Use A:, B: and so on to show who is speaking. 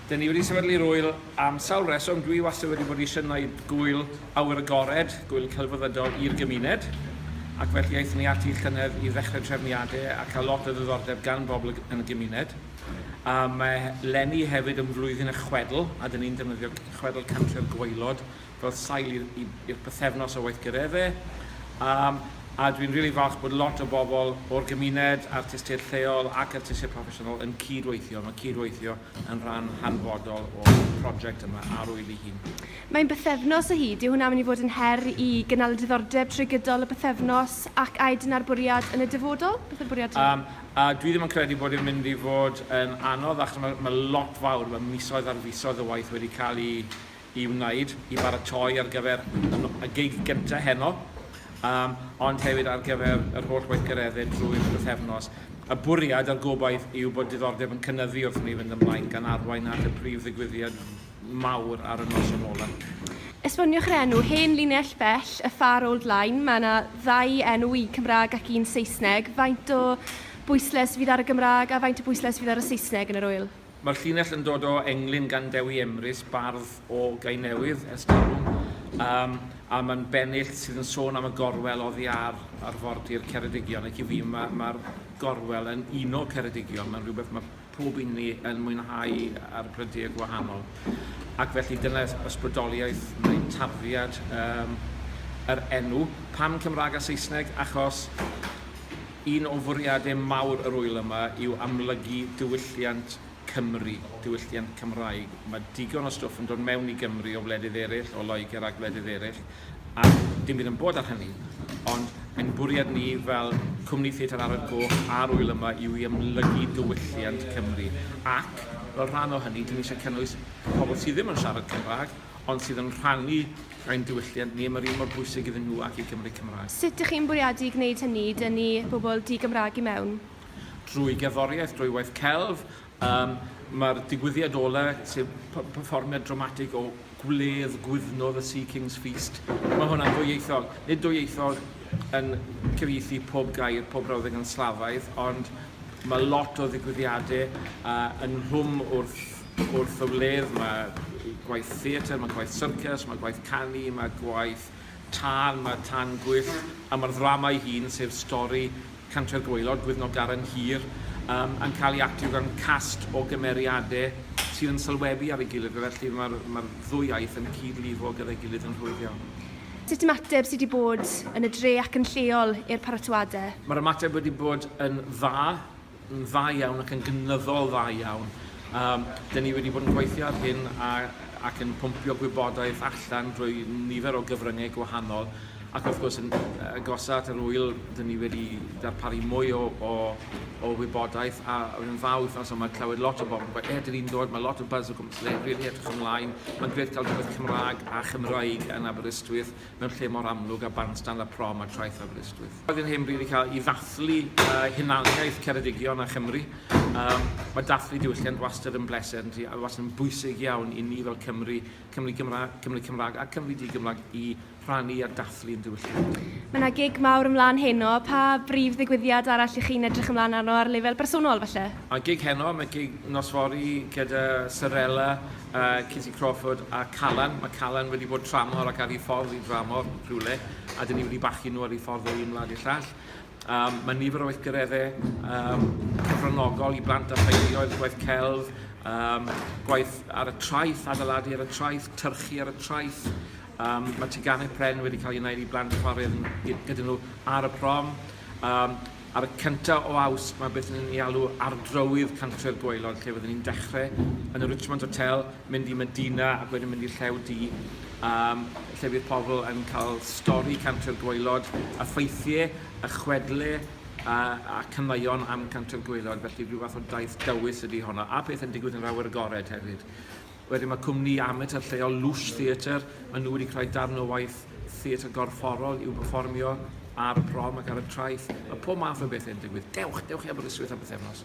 A: Dyn ni wedi sefydlu'r ŵyl am sawl reswm. Dwi wastad wedi bod eisiau gwneud gŵyl awyr agored, gŵyl celfyddydol i'r gymuned. Ac felly aethon ni ati llynedd i ddechrau trefniadau a cael lot o ddiddordeb gan bobl yn y gymuned. A mae Lenny hefyd yn flwyddyn y chwedl, a dyn ni'n defnyddio chwedl Cantre'r Gwaelod fel sail i'r pythefnos o weithgaredde a dwi'n rili falch bod lot o bobl o'r gymuned, artistiaid lleol ac artistiaid proffesiynol yn cyd-weithio. Mae cyd-weithio yn rhan hanfodol o'r prosiect yma a'r ŵyl ei hun. Mae'n bythefnos o hyd, dyw hwnna am i fod yn her i gynnal y diddordeb trwy gydol y pythefnos ac aed yn â'r bwriad yn y dyfodol? Beth yw'r bwriad yma? Um, a dwi ddim yn credu bod yn mynd i fod yn anodd achos mae, mae lot fawr, mae misoedd ar fisoedd o waith wedi cael ei i wneud i baratoi ar gyfer y gig gyntaf heno, um, ond hefyd ar gyfer yr holl weithgareddau drwy'r bythefnos. Y bwriad a'r gobaith yw bod diddordeb yn cynnyddu wrth ni fynd ymlaen gan arwain at y prif ddigwyddiad mawr ar y noson olaf. Esboniwch yr enw, hen linell bell, y far old line. Mae yna ddau enw, un Cymraeg ac un Saesneg. Faint o bwysles fydd ar y Gymraeg a faint o bwysles fydd ar y Saesneg yn yr wyl? Mae'r llinell yn dod o englyn gan Dewi Emrys, bardd o Gainewydd, ers talwm, um, a mae'n bennill sydd yn sôn am y gorwel oddi ar arfordir Ceredigion, ac i fi mae'r ma, ma gorwel yn un o Ceredigion, mae'n rhywbeth mae pob un ni yn mwynhau ar brydau gwahanol. Ac felly dyna ysbrydoliaeth neu tarddiad um, yr enw. Pam Cymraeg a Saesneg? Achos Un o fwriadau mawr yr ŵyl yma yw amlygu diwylliant Cymru, diwylliant Cymraeg. Mae digon o stwff yn dod mewn i Gymru o wledydd eraill, o Loegr a gwledydd eraill, a dim byd yn bod ar hynny. Ond ein bwriad ni fel Cwmni Theatr Arad Goch a'r ŵyl yma yw i amlygu diwylliant Cymru. Ac, fel rhan o hynny, dyn ni eisiau cynnwys pobl sydd ddim yn siarad Cymraeg, ond sydd yn rhannu ein diwylliant ni, mae'r un mor bwysig iddyn nhw ac i Gymry Cymraeg. Sut ych chi'n bwriadu gwneud hynny i dynnu pobl di-Gymraeg i mewn? Drwy gerddoriaeth, drwy waith celf, um, mae'r digwyddiad ola, sef perfformiad dramatig o gwledd gwyddnwr y Sea King's Feast, mae hwnna'n ddwyieithog. Nid dwyieithog yn cyfieithu pob gair, pob brawddeg yn slafaidd, ond mae lot o ddigwyddiadau uh, yn rhwm wrth wrth y wledd, mae gwaith theatr, mae gwaith syrcas, mae gwaith canu, mae gwaith tân, mae tân gwyllt, a mae'r ddrama ei hun, sef stori Cantre'r Gwaelod, Gwyddno Garen Hir, um, yn cael ei actio gan cast o gymeriadau sydd yn sylwebu ar ei gilydd, felly mae'r ma ddwy iaith yn cyd-lifo gyda'i gilydd yn rhwydd iawn. Sut ymateb sydd wedi bod yn y dre ac yn lleol i'r paratoadau? Mae'r ymateb wedi bod yn dda. yn dda iawn ac yn gynyddol dda iawn. Um, dyn ni wedi bod yn gweithio ar hyn a, ac yn pwmpio gwybodaeth allan drwy nifer o gyfryngau gwahanol ac wrth gwrs yn agosa at yr wyl dyn ni wedi darparu mwy o, o, o wybodaeth a yn dda wythnos yma clywed lot o bobl gwaith er dyn ni'n dod mae lot o buzz o gwmpas le rili edrych ymlaen mae'n grêt cael rhywbeth Cymraeg a Chymraeg yn Aberystwyth mewn lle mor amlwg â Bandstand a Prom a Traeth Aberystwyth. Roedd yn hen bryd i cael i ddathlu uh, hunaniaeth Ceredigion a Chymru. Um, mae dathlu diwylliant wastad yn bleser yn ti, a wastad yn bwysig iawn i ni fel Cymru, Cymru Gymraeg, Cymru Cymraeg a Cymru Di-Gymraeg i rhannu a dathlu yn diwylliant. Mae yna gig mawr ymlaen heno. Pa brif ddigwyddiad arall ych chi'n edrych ymlaen arno ar lefel bersonol falle? A gig heno, mae gig nosfori gyda Sarella uh, Kitty Crawford a Callan. Mae Callan wedi bod tramor ac ar ei ffordd i dramor rhywle, a dyn ni wedi bachu nhw ar ei ffordd o un wlad i'r llall. Um, mae nifer o weithgareddau um, cyfranogol i blant a theuluoedd, gwaith celf, um, gwaith ar y traeth, adeiladu ar y traeth, tyrchu ar y traeth. Um, mae teganau pren wedi cael ei wneud i blant chwarae gyda nhw ar y prom. Um, Ar y cyntaf o Awst mae beth ni'n ei alw Ardrywydd Cantre'r Gwaelod lle fydden ni'n dechrau yn y Richmond Hotel, mynd i Medina ac wedyn mynd i'r Llew Du um, lle fydd pobl yn cael stori Cantre'r Gwaelod, a ffeithiau, a chwedle a, a canmaion am Cantre'r Gwaelod, felly rhyw fath o daith dywys ydy honno, a pethau'n digwydd yn yr awyr agored hefyd. Wedyn mae cwmni amatur lleol Loosh Theatre, maen nhw wedi creu darn o waith theatr gorfforol i'w pefformio ar y prom ac ar y traeth. Mae pob math o bethau yn digwydd. Dewch, dewch i Aberystwyth am bythefnos.